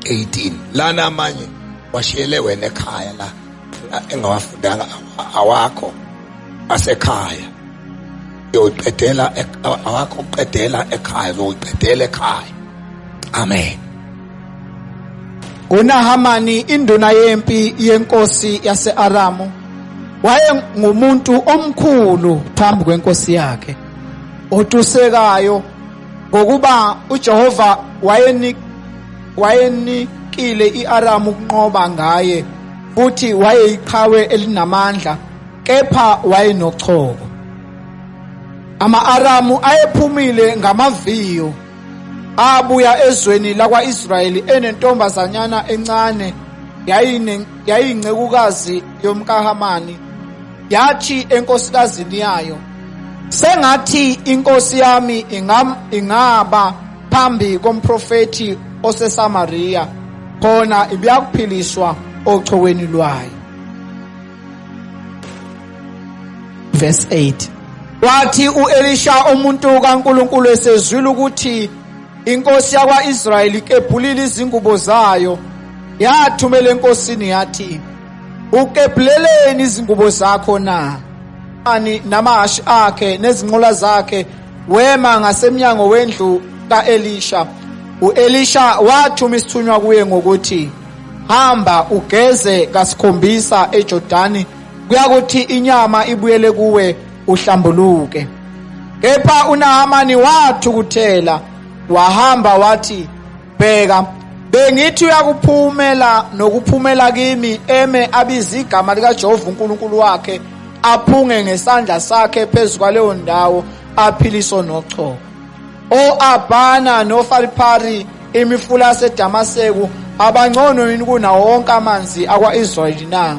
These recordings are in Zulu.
18 lana amanye washiyele wena ekhaya la engawafundanga awakho asekhaya yoqedela awakho uqedela ekhaya zoqedela ekhaya amen uNahamani induna yempi yenkosi yaseAramu wayengumuntu omkhulu phambi kwenkosi yakhe otusekayo Ngokuba uJehova wayeni wayenikile iAramu ukunqoba ngaye futhi wayeyiqhawe elinamandla kepha wayenochoko. Ama-Aramu ayephumile ngamaviyo abuya ezweni lakwa-Israyeli enentombazanyana encane yayiyincekukazi yomkaHamani Yathi enkosikazini yayo, sengathi inkosi yami ingaba phambi komprofethi oseSamaria khona ibiyakuphiliswa ochoweni lwayo verse 8 wathi uElisha umuntu kaNkuluNkulu esezwile ukuthi inkosi yakwaIsrayeli kebhulile izingubo zayo yathumela enkosini yathi Ukebhleleni izingubo zakho na? Ani namahashi akhe nezinqola zakhe wema ngasemnyango wendlu kaElisha. UElisha wathuma isithunywa kuye ngokuthi hamba ugeze kasikhombisa eJordani kuyakuthi inyama ibuyele kuwe uhlambuluke. Kepha uNahamani wathukuthela wahamba wathi bheka bengithi uyakuphumela nokuphumela kimi eme abize igama likajehova unkulunkulu wakhe aphunge ngesandla sakhe phezu kwaleyo ndawo aphiliso nochoko o-abhana nofalipari imifula yasedamaseku abangcono yini kunawo wonke amanzi akwa-israyeli na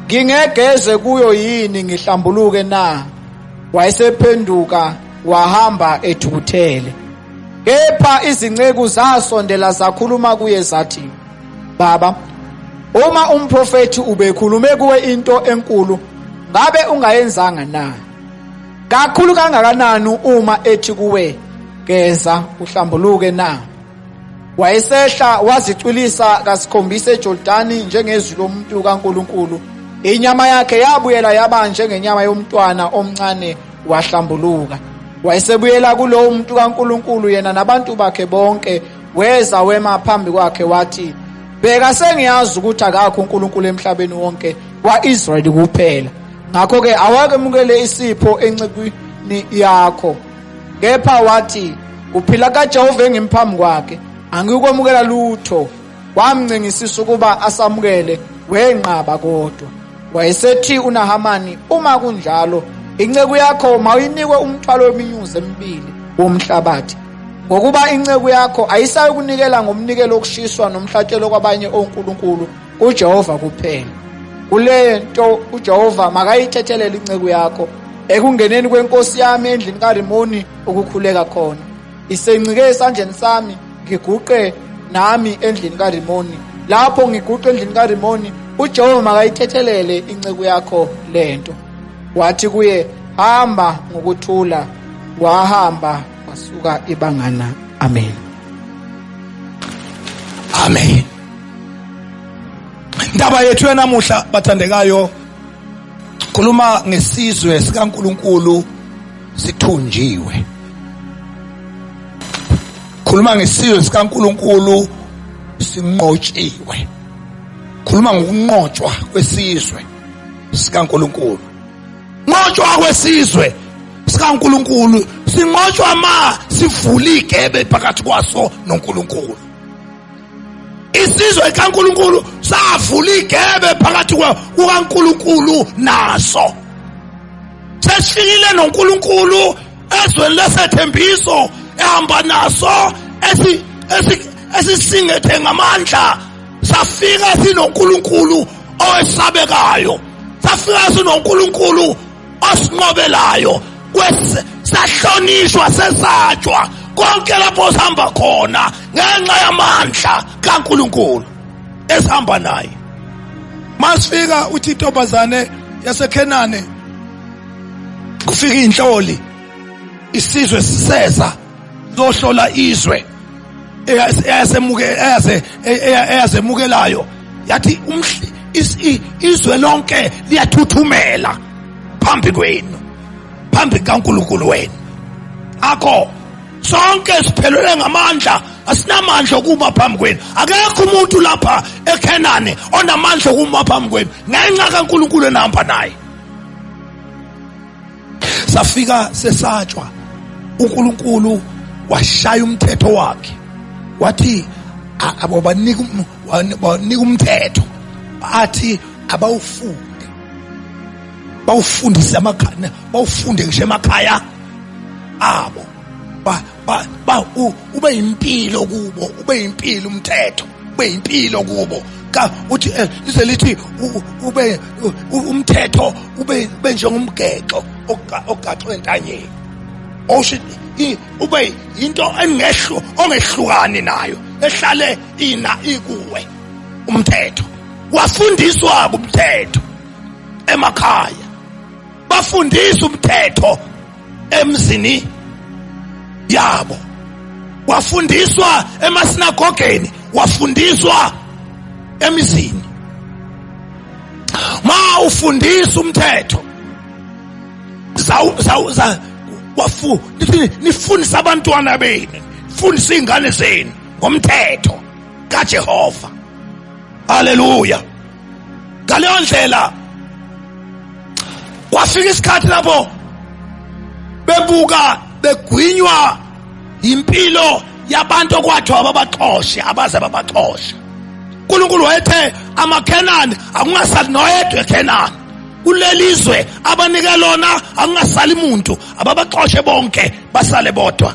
ngingegeze kuyo yini ngihlambuluke na wayesephenduka wahamba ethukuthele Kepha izinceku zasondela zakhuluma kuye zathi, Baba, uma umprofethi ubekhulume kuwe into enkulu, ngabe ungayenzanga na? Kakhulu kangakanani uma ethi kuwe, Geza uhlambuluke na? Wayesehla wazicwilisa kasikhombisa eJordani njengezwi lomuntu kaNkulunkulu. Inyama yakhe yabuyela yaba njengenyama yomntwana omncane wahlambuluka wayesebuyela kulowo muntu kaNkuluNkulu yena nabantu bakhe bonke weza wema phambi kwakhe wathi bheka sengiyazi ukuthi akakho uNkulunkulu emhlabeni wonke kwaIsrayeli kuphela ngakho ke awakemukele isipho encekwini yakho kepha wathi uphila kaJehova engimphambi kwakhe angikwamukela lutho Wamncengisisa ukuba asamukele, wenqaba kodwa. Wayesethi uNahamani, uma kunjalo, inceku yakho mawuyinikwe umthwalo weminyuzi emibili womhlabathi. Ngokuba inceku yakho ayisayokunikela ngomnikelo okushiswa nomhlatshelo kwabanye onkulunkulu kuJehova kuphela. Kule nto uJehova makayithethelele inceku yakho ekungeneni kwenkosi yami endlini kaRimoni ukukhuleka khona. Isencike esandleni sami ngiguqe nami endlini kaRimoni. Lapho ngiguqe endlini kaRimoni, uJehova makayithethelele inceku yakho lento. Wathi kuye, hamba ngokuthula, wahamba wasuka ibangana. Amen. Amen. Indaba yethu yanamuhla bathandekayo khuluma ngesizwe sikaNkuluNkulu sithunjiwe khuluma ngesizwe sikaNkuluNkulu sinqotshiwe khuluma ngokunqotshwa kwesizwe sikaNkuluNkulu nqotshwa kwesizwe sikaNkuluNkulu sinqotshwa ma sivula igebe phakathi kwaso noNkuluNkulu isizwe kaNkuluNkulu savula igebe phakathi kukaNkuluNkulu naso seshiile noNkuluNkulu ezweni lesethembiso ehamba naso esi esisingethe ngamandla safika sinoNkuluNkulu owesabekayo safika sinoNkuluNkulu osinqobelayo sahlonishwa sesatshwa konke lapho sihamba khona ngenxa yamandla kaNkuluNkulu esihamba naye masifika uthi intombazane yaseKhenane kufika inhloli isizwe siseza zohlola izwe eyazemukelayo yathi izwe lonke liyathuthumela phambi kwenu phambi kaNkulunkulu wenu akho sonke siphelele ngamandla asinamandla okuma phambi kwenu akekho umuntu lapha eKhanani onamandla okuma phambi kwenu ngenxa kaNkulunkulu enihamba naye safika sesatshwa uNkulunkulu washaya umthetho wakhe wathi abobanika banika umthetho athi abawufunde bawufundise amakhaya bawufunde ngisho emakhaya abo ba ba u, ube impilo kubo ube impilo umthetho ube impilo kubo ka uthi eh, lize lithi u- ube u- u- umthetho ube ube njengomgexo oga- ogaxwe entanyeni osho i- ube into engehlu ongehlukani nayo ehlale ina ikuwe umthetho wafundiswa umthetho emakhaya bafundisa umthetho emzini yabo wafundiswa emasinagogeni wafundiswa emizini ma ufundisa umthetho wafu nifundisa abantwana benu fundisa izingane zenu ngomthetho kaJehova haleluya ngaleyo ndlela kwafika isikhathi lapho bebuka begwinywa impilo yabantu okwathiwa babaxoshe abaze babaxoshe uNkulunkulu wayethe amaKhenani akungasali noyedwa eKhenani kulelizwe abanike lona akungasali muntu ababaxoshe bonke basale bodwa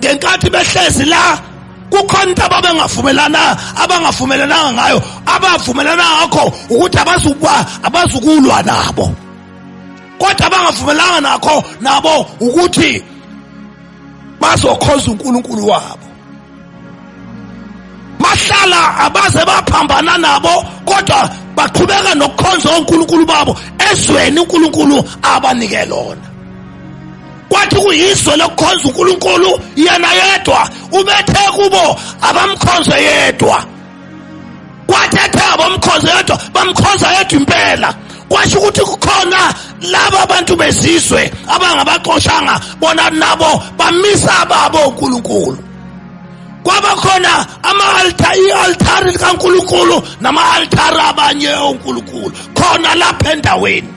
ngenkathi behlezi la kukhona into ababengavumelana abangavumelananga ngayo abavumelana ngakho ukuthi abazukuba abazukulwa nabo kodwa abangavumelanga nakho nabo ukuthi bazokhonza uNkulunkulu wabo bahlala abaze baphambana nabo kodwa baqhubeka nokukhonza onkulunkulu babo ezweni uNkulunkulu abanike lona kwathi kuyizwe lokukhonza uNkulunkulu yena yedwa ubethe kubo abamkhonze yedwa kwathi ethe abamkhonze yedwa bamkhonza yedwa impela kwasho ukuthi kukhona laba abantu bezizwe abangabaxoshanga bona nabo bamisa ababo uNkulunkulu kwabakhona ama-alta i-altari likankulunkulu nama-altari abanye onkulunkulu khona lapha endaweni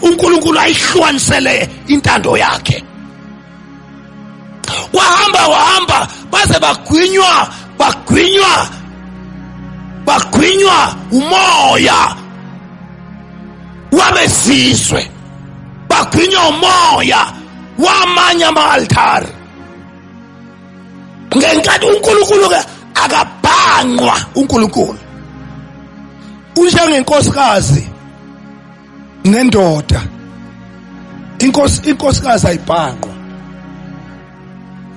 uNkulunkulu ayihlukanisele intando yakhe kwahamba wahamba baze bagwinywa bagwinywa bagwinywa umoya wabesizwe bagwinywa umoya wamanye ama-altari ngenkathi unkulunkulu-ke akabhangqwa unkulunkulu unjengenkosikazi nendoda inkosi inkosikazi ayibhaqwa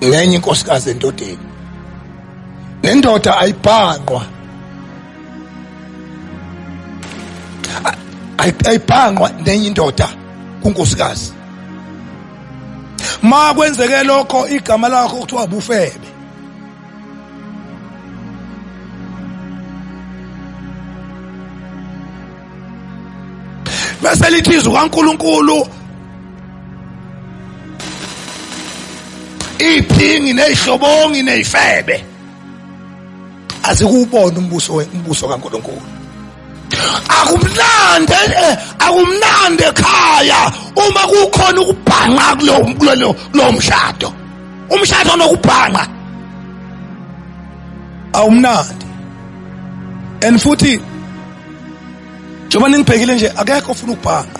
ngenye inkosikazi endodeni nendoda ayibhaqwa ayibhaqwa nenye indoda kunkosikazi ma kwenzeke lokho igama lakho kuthiwa bufebe bese lithi izwi kaNkuluNkulu iphingi nezihlobongi nezifebe azikubona umbuso umbuso kaNkuluNkulu akumnandi eh, akumnandi ekhaya uma kukhona ukubhanqa kulo kulo mshado umshado nokubhanqa awumnandi and futhi njengoba ningibhekile nje akekho ofuna ukubhanqa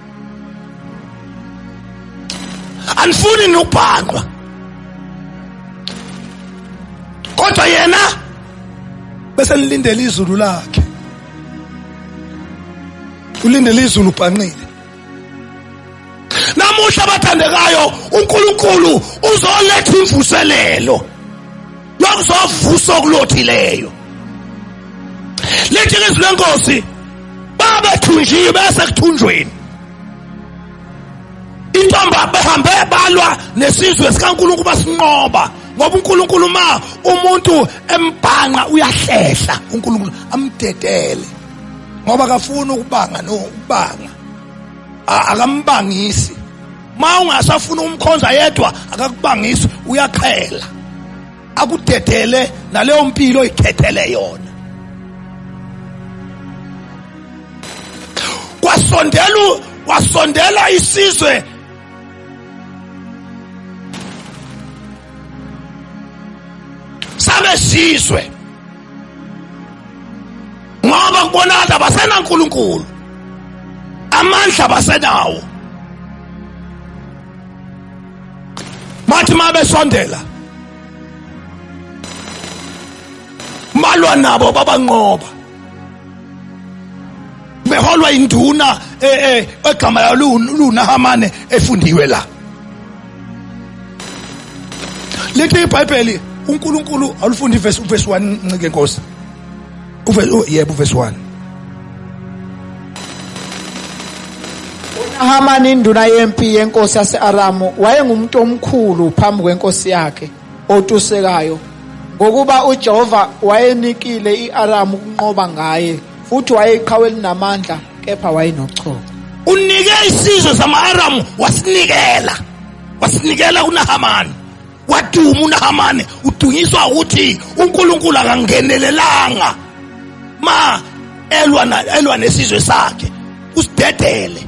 anifuni nokubhangqwa kodwa yena bese nilindele izulu lakhe ulindele izulu ubhanqile namuhla abathandekayo uNkulunkulu uzoletha imvuselelo yokuzovusa okulothileyo lithi izwi lenkosi babethunjiwe bese kuthunjweni intombi behambe balwa nesizwe sikaNkulunkulu basinqoba ngoba uNkulunkulu ma umuntu embhanqa uyahlehla uNkulunkulu amdedele ngoba akafuni ukubanga no ukubanga akambangisi ma ungasafuna umkhonza yedwa akakubangisi uyaqhela akudedele naleyo mpilo oyikhethele yona kwasondela wasondela isizwe sabesizwe ngoba kubonakala basenankulunkulu amandla basenawo bathi uma besondela malwa nabo babanqoba beholwa induna eh, eh, egama layo lunahamane efundiwe la lithi ibhayibheli unkulunkulu awulifundi ivesi uvesi 1 ncike nkosi oh, yebo uvesi 1 unahamani induna yempi yenkosi yase-aramu wayengumuntu omkhulu phambi kwenkosi yakhe otusekayo ngokuba uJehova wayenikile iAramu ukunqoba ngaye Futhi wayeyiqhawe elinamandla kepha wayenochoko. Unike isizwe sama-Aramu wasinikela. Wasinikela kuNahamani. Waduma uNahamani udunyiswa ukuthi uNkulunkulu akangenelelanga. Ma elwa na elwa nesizwe sakhe usidedele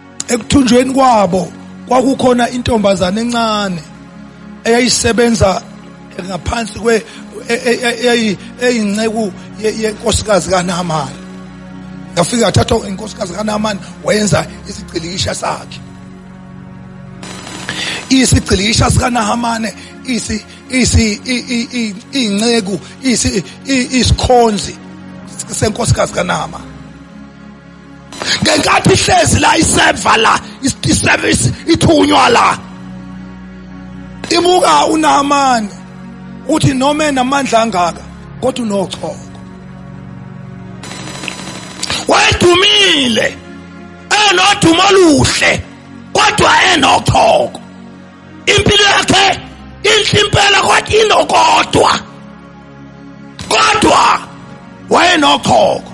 ekuthunjweni kwabo kwakukhona intombazane encane eyayisebenza ngaphansi kwe e, e, e, eyinceku yenkosikazi kaNamani yafika yathathwa inkosikazi kaNamani wayenza isigcilikisha sakhe isigcilikisha sikaNahamane isi isi inceku isi isikhonzi senkosikazi kaNahamane ngenkathi ihlezi la iseva la iservice ithunywa la ibuka uNahamani uthi noma enamandla angaka kodwa unochoko wayedumile enodumo oluhle kodwa enochoko impilo yakhe inhle impela kodwa inokodwa kodwa wayenochoko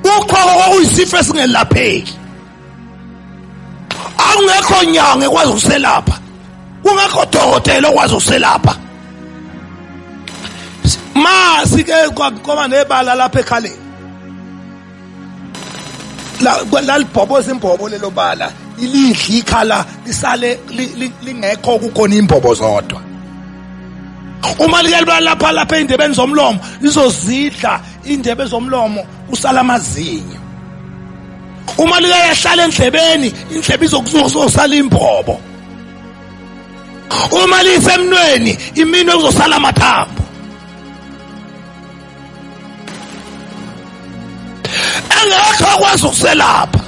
uqhoko kwakuyisifo esingelapheki akungekho nyanga ekwazi ukuselapha kungekho dokotela okwazi ukuselapha ma sike kwaba nebala lapha ekhaleni lalibhoboza imbobo lelo bala ilidla ikhala lisale lingekho kukhona imbobo zodwa uma likelibala lapha lapha ey'ndebeni zomlomo lizozidla iy'ndebe zomlomo kusala amazinyo uma likeyahlala endlebeni indlebe izokuzosala imbobo uma lisemnweni iminwe kuzosala amathambo engekho akwazi ukuselapha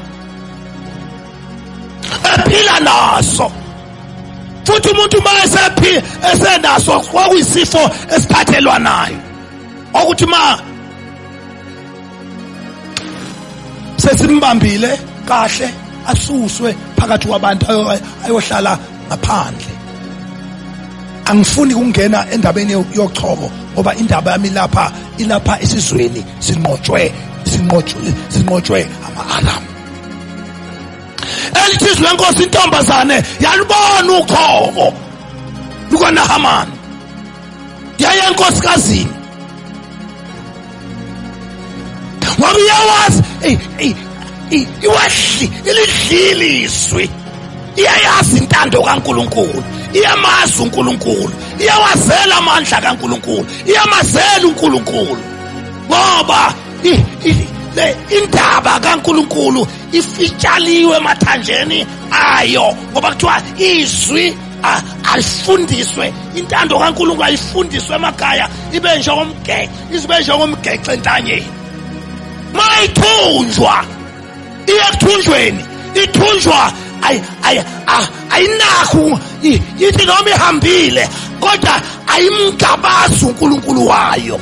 ephila naso futhi umuntu uma esephi esenaso kwakuyisifo esiphathelwa nayo okuthi ma sesimbambile kahle asuswe phakathi kwabantu ayohlala ngaphandle angifuni kungena endabeni yochoko ngoba indaba yami lapha ilapha esizweni sinqotshwe sinqotshwe sinqotshwe ama-aram elithizi lenkosi intombazane yalubona uchoko lukanahamani yaya enkosikazini ngoba iyawazi iwehli ilidliliswi iyayazi intando kaNkuluNkulu iyamazi uNkuluNkulu iyawazela amandla kaNkuluNkulu iyamazela uNkuluNkulu ngoba le indaba kaNkuluNkulu ifitshaliwe emathanjeni ayo ngoba kuthiwa izwi ayifundiswe intando kaNkulunkulu ayifundiswe emakhaya ibe njengomgece izibe njengomgece entanyeni mayithunjwa iye kuthunjweni ithunjwa ayinakho ithi noma ihambile kodwa ayimgabazi uNkulunkulu wayo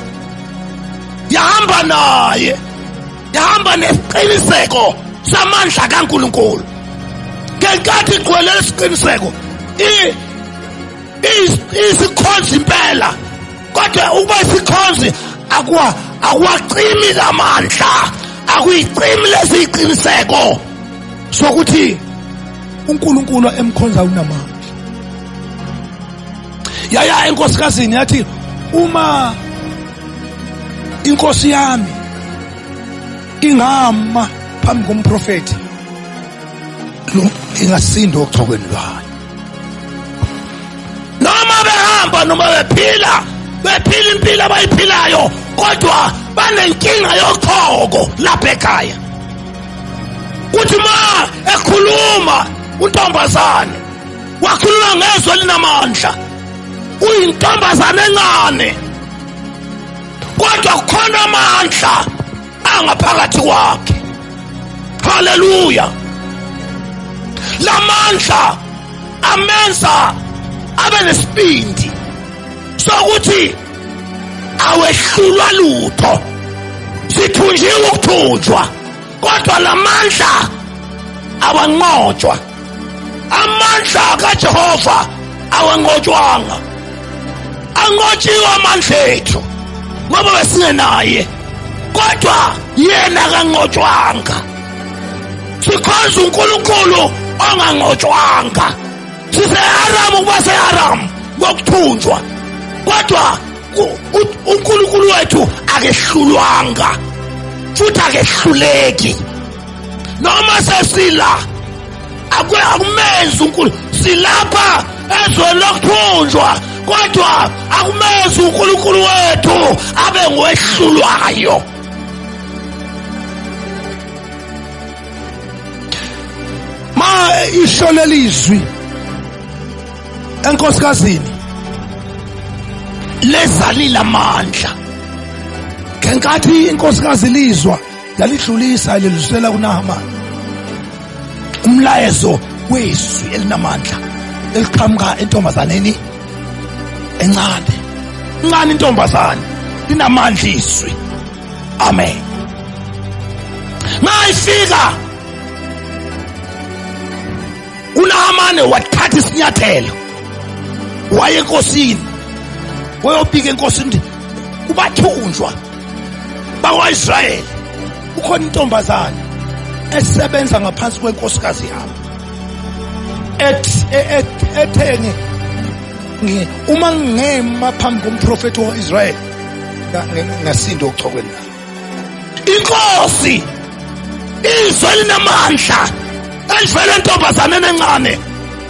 yahamba naye ndihamba nesiqiniseko samandla kaNkulunkulu ngenkathi igcwele lesiqiniseko isikhonzi impela kodwa ukuba isikhonzi akuwa akuwacimi lamandla akuyicimi lesiqiniseko sokuthi uNkulunkulu emkhonza unamandla yaya enkosikazini yathi uma inkosi yami ingama phambi komprofeti lo ingasinda ochokweni lwayo noma behamba noma bephila bephila impilo abayiphilayo kodwa banenkinga yochoko lapha ekhaya kuthi ma ekhuluma untombazane wakhuluma ngezwi elinamandla uyintombazane encane kodwa kukhona amandla angaphakathi kwakhe haleluya lamandla amenza abe nesibindi sokuthi awehlulwa lutho sithunjiwe ukuthunjwa kodwa lamandla abanqotshwa amandla kajehova awanqotshwanga anqotshiwe amandla ethu ngoba besingenaye kodwa yena kanqotshwanga sikhonza unkulunkulu onganqotshwanga siseharam ukuba seharam ngokuthunjwa kodwa unkulunkulu wethu akehlulwanga futhi akehluleki noma sesila akwe akumenzi unkulu silapha ezweni lokuthunjwa kodwa akumenzi unkulunkulu wethu abe ngwehlulwayo ma isho lelizwi enkosikazini lezalile amandla ngenkathi inkosikazi lizwa lalidlulisa lelizwela kunahamani umlayezo wezwi elinamandla eliqhamuka entombazaneni encane incane intombazane linamandla izwi amen mayifika unahamane wathatha isinyathelo waye enkosini wayobika enkosini ukuthi kubathunjwa bakwa-israyeli kukhona intombazane esebenza ngaphansi kwenkosikazi yami ethi e- e- etheni ngi- uma ngema phambi komprofethi wa-israyeli nga- nga- ngasinda ochokweni lami inkosi izwe linamandla elivele entombazaneni encane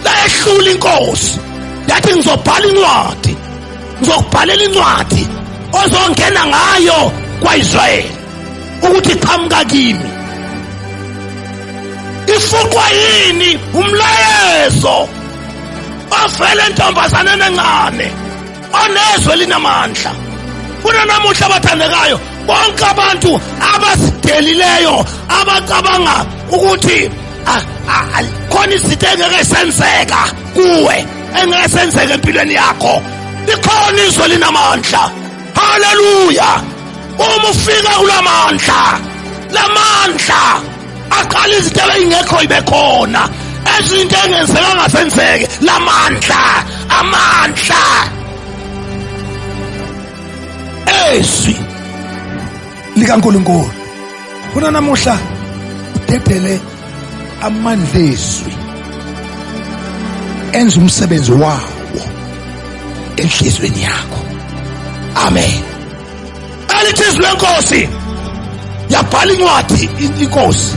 layehlula inkosi yathi ngizobhala incwadi ngizokubhalela incwadi ozongena ngayo kwaIsrayeli ukuthi qhamuka kimi ifuqwa yini umlayezo ovele entombazaneni encane onezwe linamandla kunanamuhla abathandekayo bonke abantu abasidelileyo abacabanga ukuthi Ah, ah, khona izinto engeke senzeka kuwe engeke senzeka empilweni yakho likhona izwe linamandla haleluya uma ufika kulamandla lamandla aqala izinto ebeyingekho ibe khona ezinto engenzeka ngasenzeke lamandla amandla ezwi likaNkulunkulu kunanamuhla udedele amandla ezwi enza umsebenzi wawo enhlizweni yakho amen alithi izwi lenkosi yabhala incwadi inkosi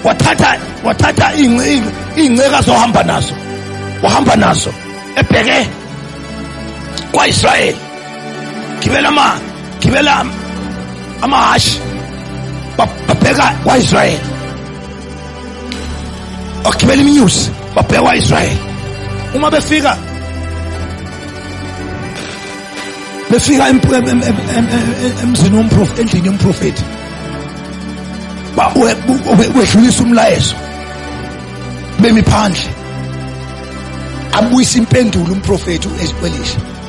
wathatha wathatha iy'nceka zohamba nazo wahamba nazo ebheke kwaIsrayeli gibela ma gibela amahhashi babheka kwaIsrael bagibela iminyusi babheka kwaIsrael uma befika befika emzini womprofeti endlini yomprofeti wedlulisa umlayezo bemi phandle abuyisa impendulo umprofeti uEzekiel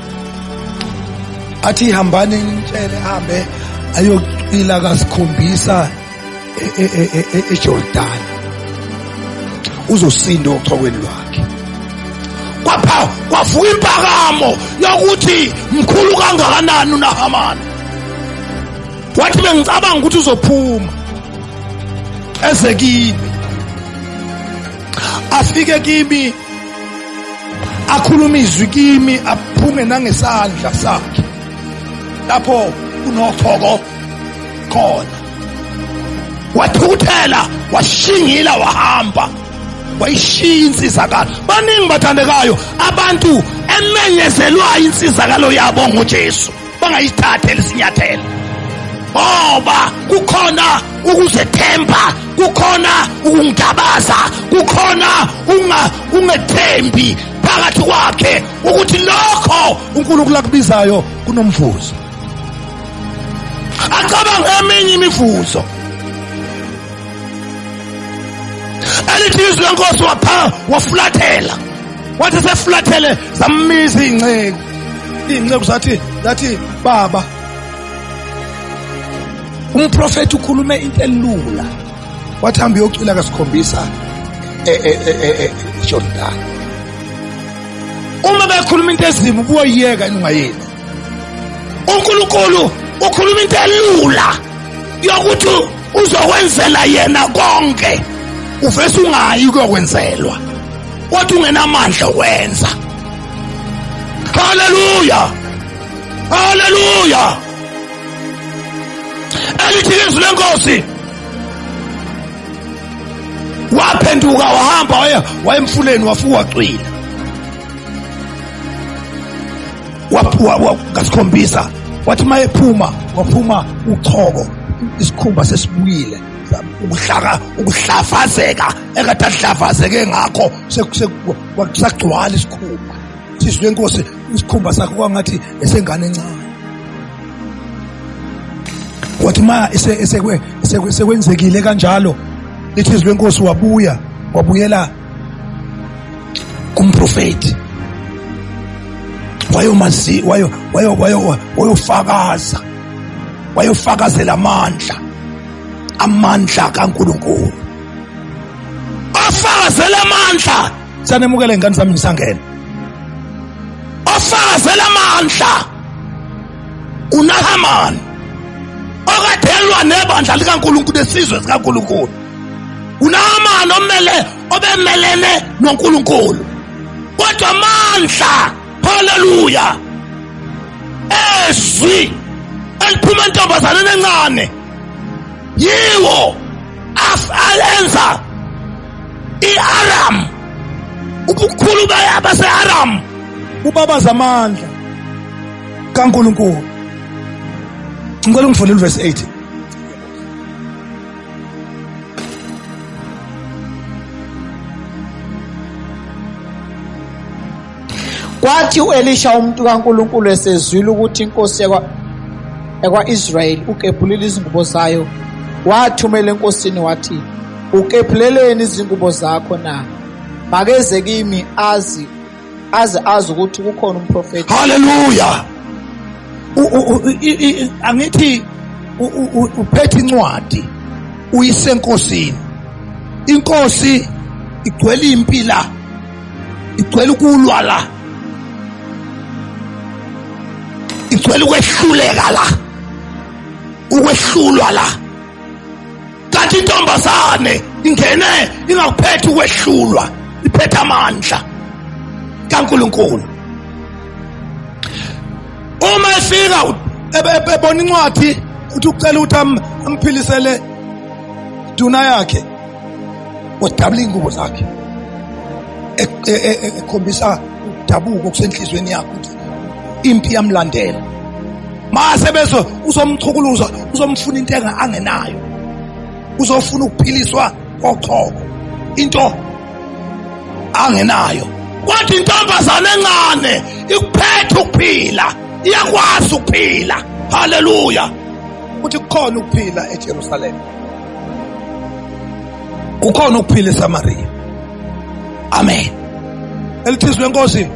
athi hambani nitshele hambe ayocila kasikhombisa eJordan uzosinda ochokweni lwakhe kwapha kwavuka impakamo yokuthi mkhulu kangakanani uNahamani wathi bengicabanga ukuthi uzophuma eze kimi afike kimi akhuluma izwi kimi aphume nangesandla sakhe lapho kunothoko khona wathukuthela washingila wahamba wayishiya insizakalo baningi bathandekayo abantu emenyezelwayo insizakalo yabo nguJesu bangayithatha elisinyathelo ngoba kukhona ukuzethemba kukhona ukungabaza kukhona unga ungethembi phakathi kwakhe ukuthi lokho uNkulunkulu akubizayo kunomvuzo acabanga eminye imivuzo elithi izwi lenkosi wapha wafulathela wathi sefulathele zammiza iy'nceku iy'nceku zathi zathi baba umprofethi ukhulume into elula wathi hambe uyocwila kasikhombisa ejordani uma bekhuluma into ezimu kuyoyiyeka yini ungayeni uNkulunkulu ukhuluma into elula yokuthi uzokwenzela yena konke uvese ungayi kuyokwenzelwa wathi ungenamandla okwenza haleluya haleluya elithi izwi lenkosi waphenduka wahamba waya wayemfuleni wafuka cwila ngasikhombisa wathi uma ephuma waphuma uchoko isikhumba sesibuyile ukuhlaka ukuhlafazeka ekade ahlafazeke ngakho kusagcwala isikhumba sisi lenkosi isikhumba sakho kwangathi esengane encane wathi ma esekwenzekile kanjalo lithi izwi lenkosi wabuya wabuyela kumprofethi wayomazi wayo wayo wayo wayofakaza wayofakazela amandla amandla kaNkuluNkulu ofakazela amandla sanemukele ngani sami ngisangena ofakazela amandla uNahamani okathelwa nebandla likaNkuluNkulu esizwe sikaNkuluNkulu unamani omele obemelene nonkulunkulu kodwa mandla haleluya ezwi eliphuma entombazaneni encane yiwo alenza i-aram ubukhulu base-aram ubabaza amandla kankulunkulu ngicela ungifundele uvesi 8 Kwathi u-Elisha umuntu kaNkulunkulu esezwile ukuthi inkosi yakwa-Israyeli ukebhulile izingubo zayo, wathumela enkosini wathi, Ukebhuleleni izingubo zakho na? Makeze kimi azi aze azi ukuthi kukhona umprofethi haleluya angithi uphethe incwadi uyisenkosini inkosi igcwele impila igcwele ukulwa la igcwele ukwehluleka la ukwehlulwa la kanti intombazane ingene ingakuphetha ukwehlulwa iphetha amandla kaNkuluNkulu uma efika ebona incwadi uthi ucela ukuthi amphilisele duna yakhe wadabula iy'ngubo zakhe ekhombisa ukudabuka okusenhliziyweni yakho ukuthi impi yamlandela mase bezo uzomchukuluza uzomfuna into angenayo uzofuna ukuphiliswa kochoko into angenayo kodwa intombazane encane ikuphethe ukuphila iyakwazi ukuphila haleluya ukuthi kukhona ukuphila eJerusalema kukhona ukuphila eSamaria amen elithizwe enkosi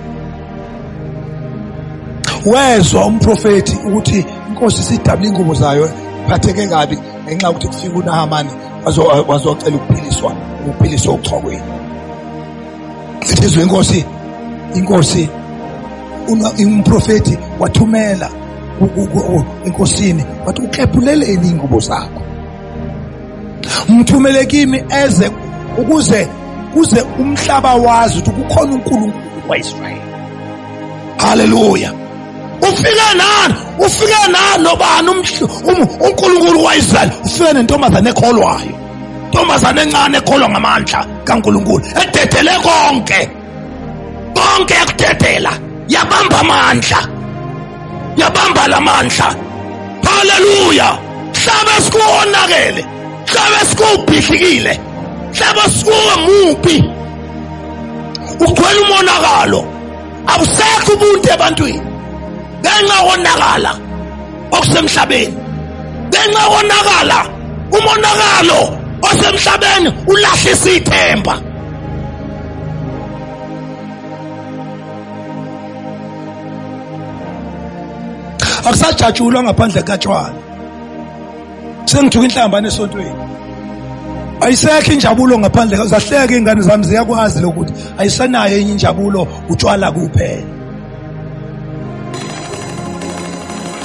wezwa umprofeti ukuthi inkosi sidabula ingubo zayo phatheke kabi ngenxa yokuthi kufika unahamani wazocela ukuphiliswa ukuphiliswa uchokweni Sizwe inkosi inkosi umprofeti wathumela enkosini wathi uklebhuleleni ingubo zakho mthumele kimi eze ukuze kuze umhlaba wazi ukuthi kukhona uNkulunkulu kwaIsrael haleluya ufike nani ufike nani nobani uNkulunkulu kwaIsrael ufike nentombazane ekholwayo ntombazane encane ekholwa ngamandla kaNkulunkulu ededele konke konke yakudedela yabamba amandla yabamba lamandla haleluya hlaba sikuwonakele hlaba sikubhidlikile hlaba sikuwe mubi ugcwele umonakalo abusekho ubuntu ebantwini ngenxa konakala okusemhlabeni ngenxa konakala umonakalo osemhlabeni ulahlisa ithemba akusajatshulwa ngaphandle katshwala sengithuka inhlambane esontweni ayisekho injabulo ngaphandle zahleke ingane zami ziyakwazi lokuthi ayisenayo enye injabulo utshwala kuphela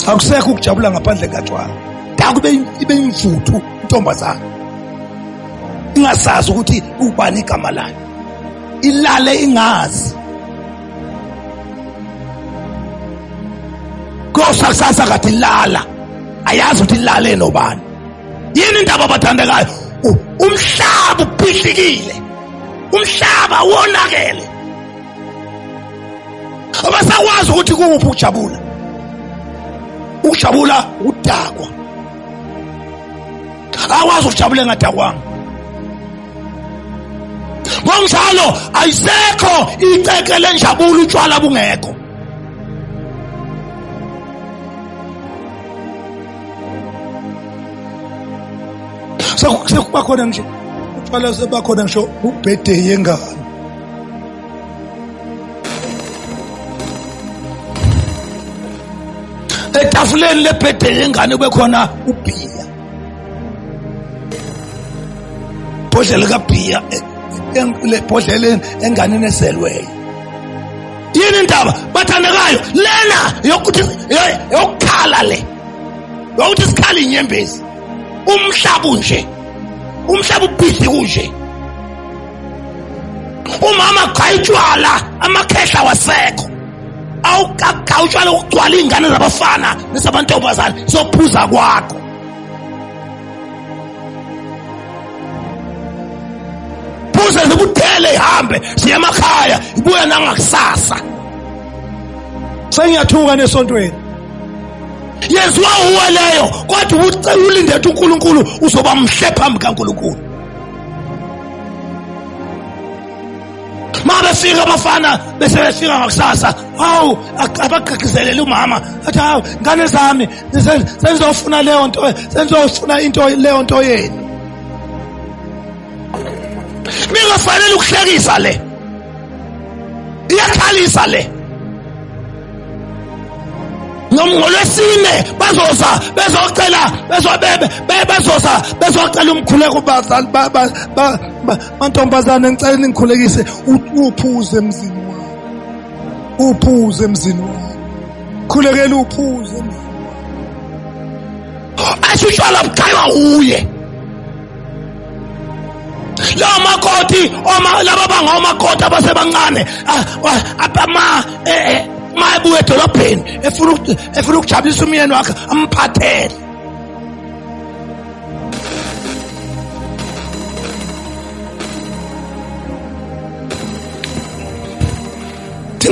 akusekho ukujabula ngaphandle katshwala dakube ibe imvuthu intombazana ingasazi ukuthi ubani igama layo ilale ingazi kosa kusasa kade ilala ayazi ukuthi ilale nobani yini indaba abathandekayo umhlaba ubhidlikile umhlaba wonakele abasakwazi ukuthi kuwuphi ukujabula ukujabula ukudakwa akwazi ukujabula engadakwanga ngokunjalo ayisekho iceke lenjabulo utshwala bungekho sekuba khona nje utshwala sebakhona ngisho ubhede yengane etafuleni lebhede yengane bekhona ubhiya bhodlela kabhiya lebhodleleni enganeni ezelweyo yini indaba bathandekayo lena yokuthi yokukhala le yokuthi sikhala inyembezi umhlaba unje umhlaba ubhizi kunje umama gqaya utshwala amakhehla wasekho awugagaya utshwala ukugcwala iy'ngane zabafana nezamantombazane sophuza kwakho phuze zikuthele ihambe ziye emakhaya ibuya nangakusasa sengiyathuka nesontweni yenziwa uwe leyo kodwa ulindethe unkulunkulu uzoba mhle phambi kankulunkulu mabefika abafana bese befika ngakusasa hawu abagqigqizelele umama athi hawu ngane zami senzofuna leyo nto senzofuna into leyo nto yenu ningafanele ukuhlekisa le iyakhalisa le ngolwesine bazoza bezocela bezobebe bezoza bezocela umkhuleko bazali mantombazane ngicela ningikhulekise uphuze emzini wami uphuze emzini wami khulekela uphuze emzini wami asho utshwala buchaywa uye lawo makoti laba banga omakoti abasebancane abama eh, eh, ma ebuya edolobheni efuna ukujabulisa umyeni wakhe amphathele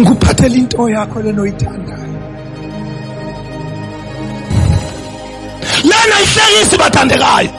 ngikuphathela into yakho lena oyithandayo lena ihlekisi bathandekayo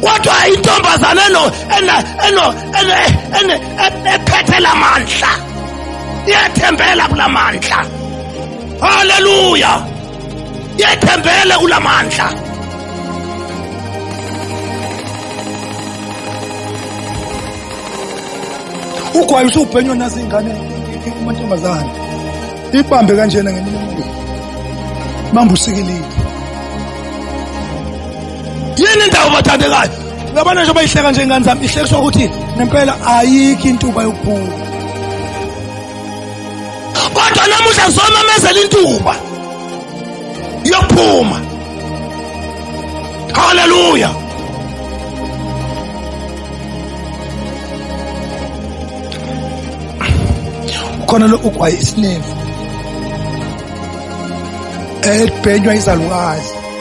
kodwa intombazane eno ena eno ene ene ephethe lamandla iyethembela kulamandla haleluya iyethembele kulamandla ugwayi usubhenywa nazo ingane kumantombazane ibambe kanjena ngeminye imibili mambusikelile yini indawo bathandekayo uyabona njengoba ihleka nje ingane zami ihlekiswa ukuthi nempela ayikho intuba yokuphuma kodwa namuhla zomamezela intuba yokuphuma haleluya khona lokhu kwayisileva elibhenywa izalukazi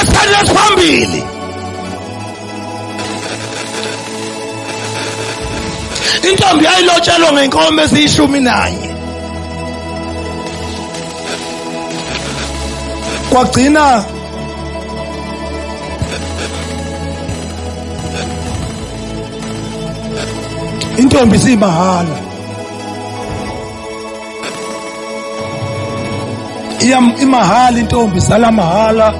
Esenye phambili intombi yayilotshelwa ngenkomo eziyishumi nanye kwagcina intombi simahhala iyam imahhala intombi sala mahhala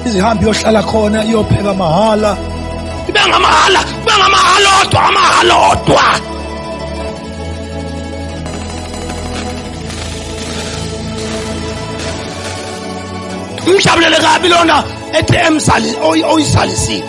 izihambi yohlala khona iyopheka mahhala ibe ngamahhala ibe ngamahhala odwa amahhala odwa umjabulele kabi lona ethe emzali oyizalisile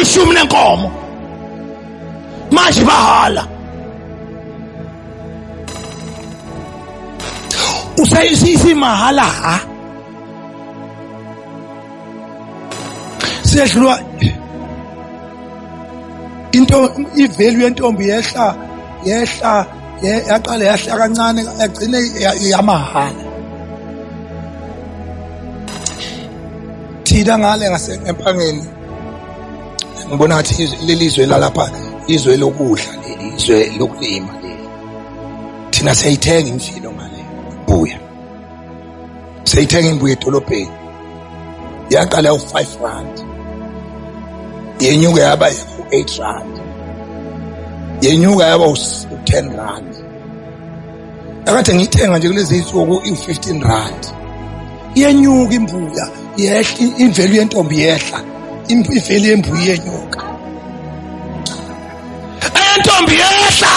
ishumi lenkomo manje bahala usayisisi mahala ha sehlwa into ivalue yentombi yehla yehla yaqale yahla kancane yagcine yamahhala thina ngale ngasempangeni ngibona ngathi lelizwe lalapha izwe lokudla lelizwe lokulima leli thina siyayithenga imfilo ngale buya seyithenga imbuyo edolobheni yaqala u-five rand yenyuka yaba u-eight rand yenyuka yaba u-ten rand akade ngiyithenga nje kulezi nsuku iwu-fifteen rand iyenyuka imbuya yehla imvelu yentombi yehla imvelu yembuya iyenyuka entombi yehla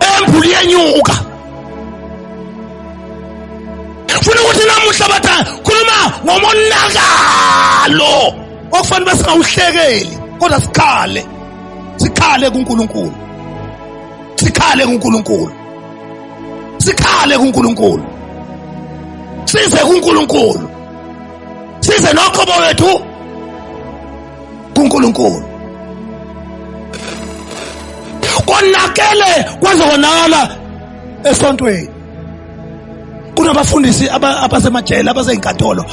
Embulu iyenyuka. Funa ukuthi namuhla batha khuluma ngomonakalo okufanele singawuhlekeli kodwa sikhale. Sikhale kuNkulunkulu. Sikhale kuNkulunkulu. Sikhale kuNkulunkulu. Size kuNkulunkulu. Size nokho bowethu kuNkulunkulu konakele kwaze konakala esontweni kunabafundisi abasemajele abaseyinkantolo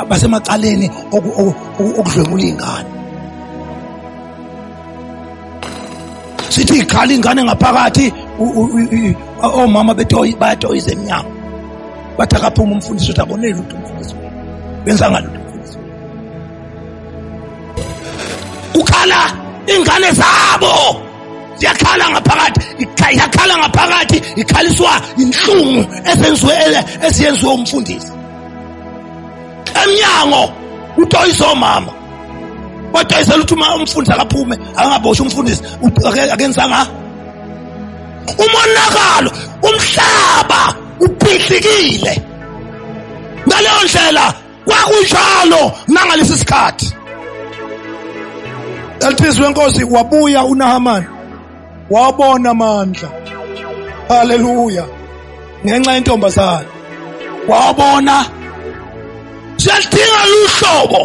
basemacaleni okudlwengula iy'ngane sithi ikhala ingane ngaphakathi omama betoyi bayatoyiza emnyango bathi akaphuma umfundisi uthi akoneli lutho umfundisi wenu benza ngalutho umfundisi wenu kukhala ingane zabo ziyakhala ngaphakathi yakhala ngaphakathi ikhaliswa inhlungu esenziwe esiyenziwe umfundisi emnyango utoyiza omama wadayisela ukuthi uma umfundisi akaphume angaboshwa umfundisi akenzanga umonakalo umhlaba uphihlikile ngaleyo ndlela kwakunjalo nangalesi sikhathi elithizwe inkosi wabuya unahamani wabona amandla haleluya ngenxa yentombazane wabona siyalidinga luhlobo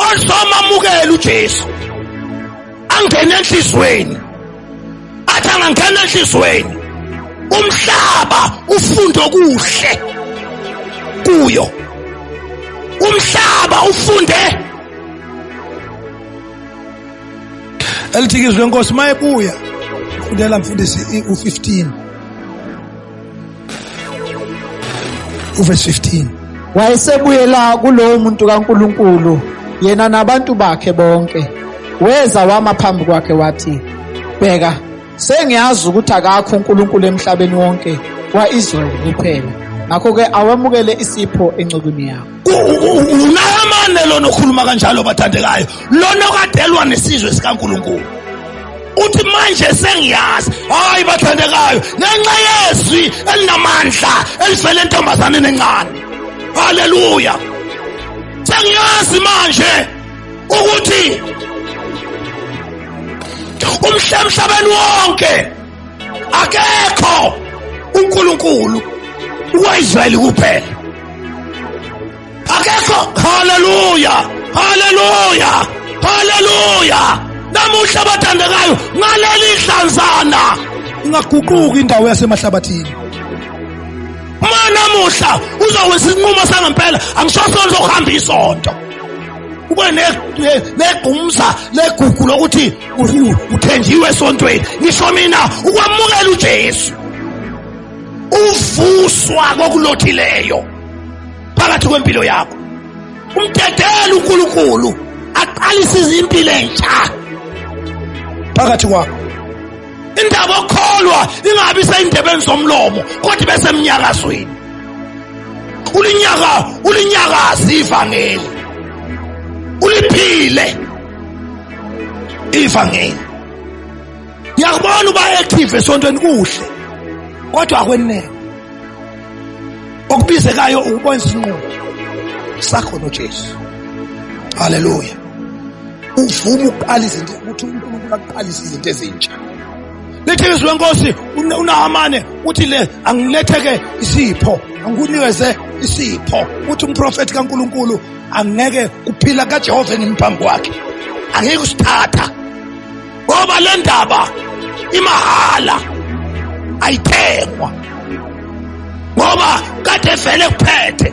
oluzomamukela uJesu angene enhlizweni athi angangena enhlizweni umhlaba ufunde okuhle kuyo umhlaba ufunde elithiki izwi lenkosi uma ebuya fundela mfundisi u-15 uvesi 15 wayesebuyela kulowo muntu kankulunkulu yena nabantu bakhe bonke weza wama phambi kwakhe wathi bheka sengiyazi ukuthi akakho uNkulunkulu emhlabeni wonke kwa-Israyeli kuphela ngakho-ke awamukele isipho encekwini yakho unayamane lona okhuluma kanjalo bathandekayo lona okadelwa nesizwe sikaNkulunkulu uthi manje sengiyazi hayi bathandekayo ngenxa yezwi elinamandla elivele entombazaneni encane haleluya sengiyazi manje ukuthi umhlamhlabeni wonke akekho uNkulunkulu uwaIsrayeli kuphela akekho haleluya haleluya haleluya namuhla abathandekayo ngaleli hlanzana ingaguquki indawo yasemahlabathini uma namuhla uzowenza isinqumo sangempela angisosona sokuhamba isonto ube negumza legugu lokuthi uthenjiwe esontweni ngisho mina ukwamukela uJesu uvuswa kokulothileyo phakathi kwempilo yakho umdedela uNkulunkulu aqalise izimpilo entsha phakathi kwakho indaba okholwa ingabi seyindebeni zomlomo kodwa ibe semnyakazweni ulinyaka ulinyakazi ivangeli uliphile ivangeli ngiyakubona uba active esontweni kuhle kodwa akwenele okubizekayo ukubona isinqumo sakho noJesu haleluya uvuma ukuqala izinto ukuthi uNkulunkulu aqalise izinto ezintsha lithi izwi lenkosi unahamane uthi le angiletheke isipho angikunikeze isipho uthi umprofethi kaNkulunkulu angeke kuphila kaJehova engimphambi kwakhe angeke usithatha ngoba le ndaba imahala ayithengwa ngoba kade vele kuphethe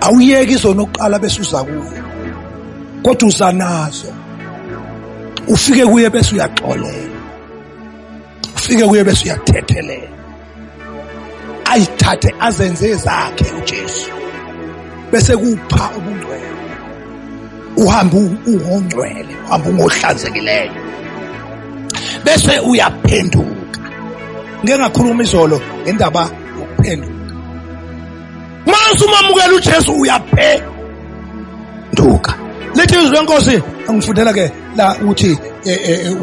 awuyeki izona oqala bese uza kuye kodwa uza nazo ufike kuye bese uyaxolela ufike kuye bese uyathethelela ayithathe azenze zakhe uJesu bese kupha ubungcwele uhamba ungongcwele uhamba ungohlanzekileyo bese uyaphenduka ngeke ngakhuluma izolo ngendaba yokuphenduka mase umamukela uJesu uyaphenduka lethi izwi lenkosi angifundela ke la uthi eh, eh, eh,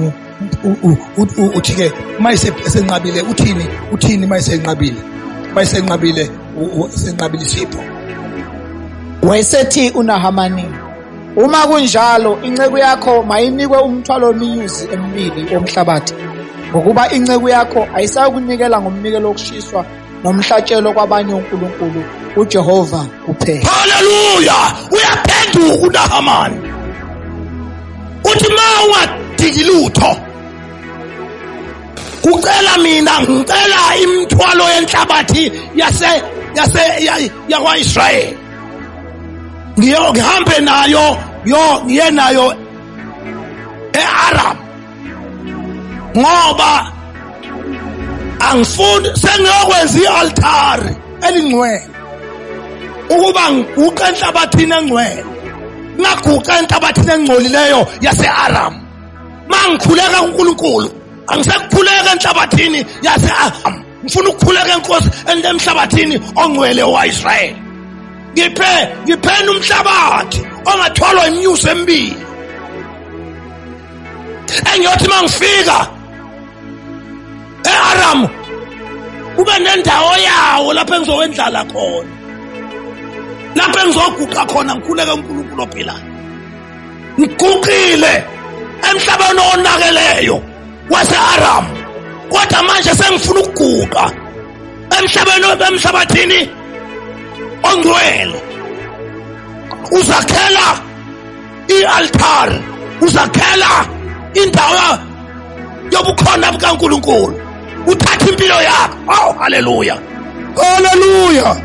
uthi ke mayise senqabile uthini uthini mayisenqabile mayisenqabile senqabile isipho wayesethi unahamani uma kunjalo inceku yakho mayinikwe umthwalo weminyuzi emibili womhlabathi ngokuba inceku yakho ayisayokunikela ngomnikelo wokushiswa nomhlatshelo kwabanye onkulunkulu ujehova kuphela haleluya uyaphenduka unahamani uthi ma ungadiki lutho kucela mina ngicela imithwalo yenhlabathi yase yase yakwa-israyeli ngihambe nayo yo ngiye nayo e-aram ngoba angifuni sengiyokwenza ialtari elingcwele ukuba ngiguqe enhlabathini engcwele ngaguqa enhlabathini engcolileyo yaseAram mangikhuleka kuNkulunkulu angisekukhuleka enhlabathini yaseAram ngifuna ukukhuleka enkosi emhlabathini ongcwele waIsrael ngiphe ngiphena umhlabathi ongathwalwa imnyuso emibili engiyothi mangifika eAram kube nendawo yawo lapho engizowendlala khona lapho engizoguqa khona ngikhuleke uNkulunkulu ophilayo ngiguqile emhlabeni onakeleyo waseAram kodwa manje sengifuna ukuguqa emhlabeni emhlabathini ongcwele uzakhela i-altar uzakhela indawo yobukhona bukaNkulunkulu uthatha impilo yakho aw haleluya haleluya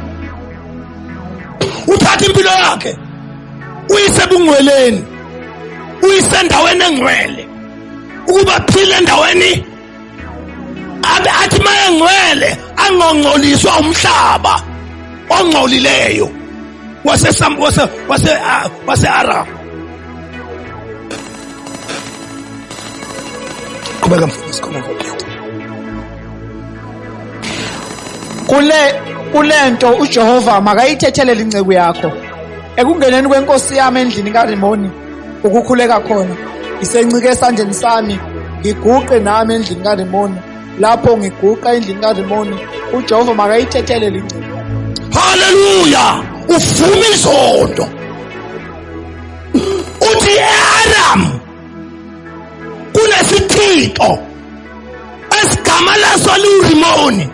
uthatha impilo yakhe uyisebungcweleni uyisendaweni engcwele ukuba phile endaweni abe athi mayengcwele angongcoliswa umhlaba ongcolileyo wase wase wase ah, wase Arab qhubeka mfundisi khona ngokhetha kule kulento uJehova makayithethelele inceku yakho ekungeneni kwenkosi yami endlini kaRimoni ukukhuleka khona ngisencike esandleni sami ngiguqe nami endlini karimoni lapho ngiguqa endlini karimoni ujehova makayithethele lingcebo haleluya uvuma izondo uthi earam kunesithixo esigama laso liwurimoni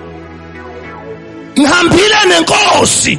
ngihambile nenkosi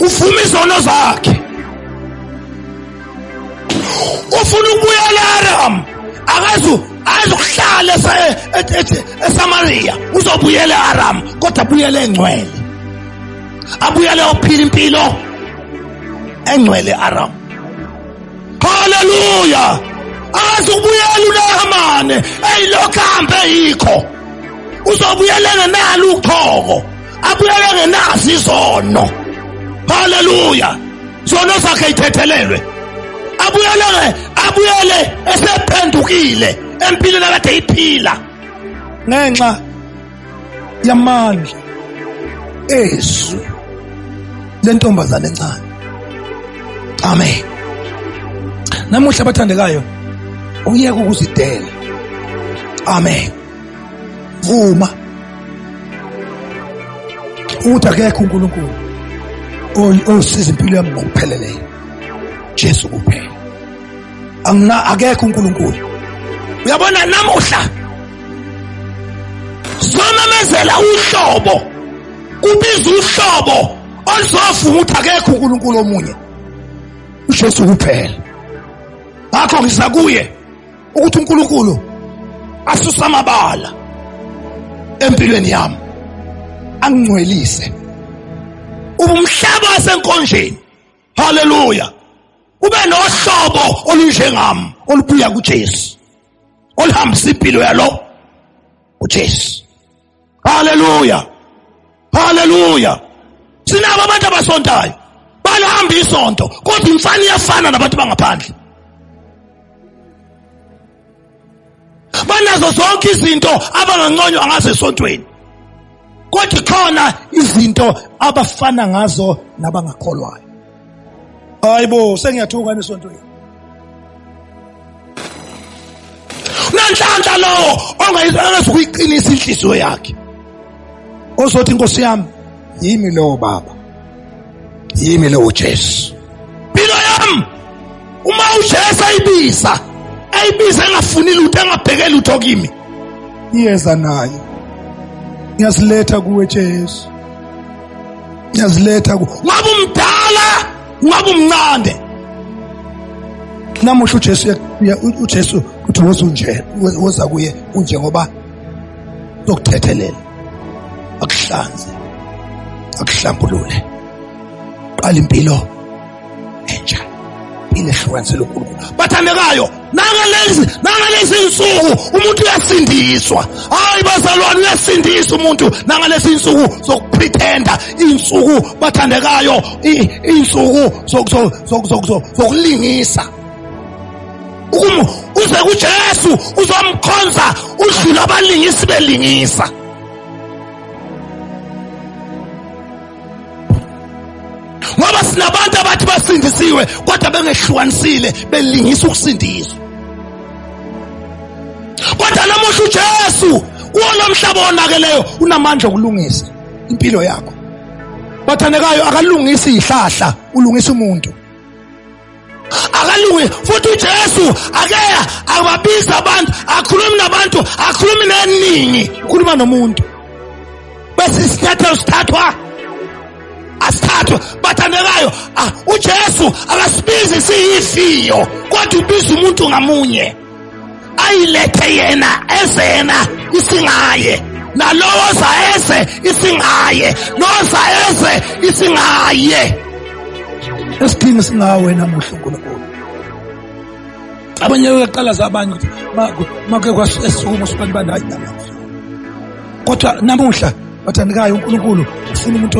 uvuma izono zakhe ufuna ukubuyela eAram akazu azohlala eSamaria uzobuyela eAram kodwa abuyele engcwele abuyele ophila impilo engcwele eAram haleluya akazi ukubuyela uNahamane eyilokhu ahambe yikho uzobuyelela nalo uqhoko abuyeke ngenazi izono haleluya zono zakhe ithethelelwe abuyele abuyele esephendukile empilweni akade iphila ngenxa yamandla ezwi lentombazane encane amen namuhla abathandekayo uyeke ukuzidela amen vuma ukuthi akekho uNkulunkulu osiza impilo yami ngokupheleleyo Jesu kuphela angina akekho uNkulunkulu uyabona namuhla somemezela uhlobo kubiza uhlobo oluzovuma ukuthi akekho uNkulunkulu omunye uJesu kuphela ngakho ngiza kuye ukuthi uNkulunkulu asuse amabala empilweni yami angingcwelise ubumhlaba wasenkonjeni haleluya ube nohlobo olunjengam olubuya kuJesu olihambisa impilo yalo uJesu haleluya haleluya sinabo abantu abasontayo balihamba isonto kodwa imfana iyafana nabantu bangaphandle banazo zonke izinto abanganconywa ngazo esontweni kodwa khona izinto abafana ngazo nabangakholwayo hayibo sengiyathuka nesontweni unenhlanhla lowo ongayizukuyiqinisa inhliziyo yakhe ozothi inkosi yami yimi lowo baba yimi lowo jesu mpilo yami uma ujesu ayibiza ayibiza engafuni lutho engabheke lutho kimi iyeza nayo ngiyaziletha kuwe jesu ngiyaziletha ku ungaba umdala ungaba umncane namuhla uJesu uJesu uthi woza unje woza kuye unje ngoba lokuthethelela akuhlanze akuhlambulule qala impilo entsha inehlukanisa elonkulunkulu bathandekayo nangalezi nangalezi nsuku umuntu uyasindiswa hayi bazalwane uyasindisa umuntu nangalezi nsuku zokupretenda insuku bathandekayo insuku zokulingisa uze kujesu uzomkhonza udlula abalingisi belingisa ngoba sinabantu abathi basindisiwe kodwa bengehlukanisile belingisa ukusindiswa kodwa namuhla uJesu kuwona mhlaba onakeleyo unamandla okulungisa impilo yakho bathandekayo akalungisi ihlahla ulungisa umuntu haleluya futhi ujesu akeya ababizi abantu akhulumi nabantu akhulumi neningi ukhuluma nomuntu bese isinyathelo sithathwa asithathwe bathandekayo ah, ujesu akasibizi siyifiyo kodwa ubiza umuntu ngamunye ayilethe yena eze yena isingaye nalowo oza eze isingaye noza eze isingaye esidingi singawe namuhla unkulunkulu abanye uyaqala zabanye ukuthi make kwasukuma usubantu bandayi namuhla kodwa namuhla bathandekayo unkulunkulu ufuna umuntu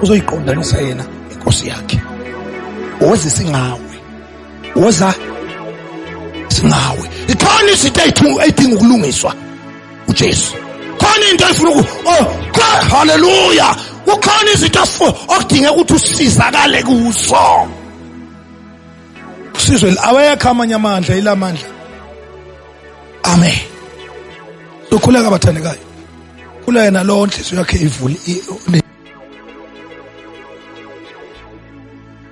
ozoyiqondanisa yena inkosi yakhe owezisa ingawe woza singawe ikhona izinto eyidinga ukulungiswa ujesu khona into efuna oh, haleluya kukhona izinto okudingeka ukuthi usizakale kuzo usizwe awekho amanye amandla ila mandla amen sokhuleka abathandekayo kula yena lowo nhliziyo yakhe ivule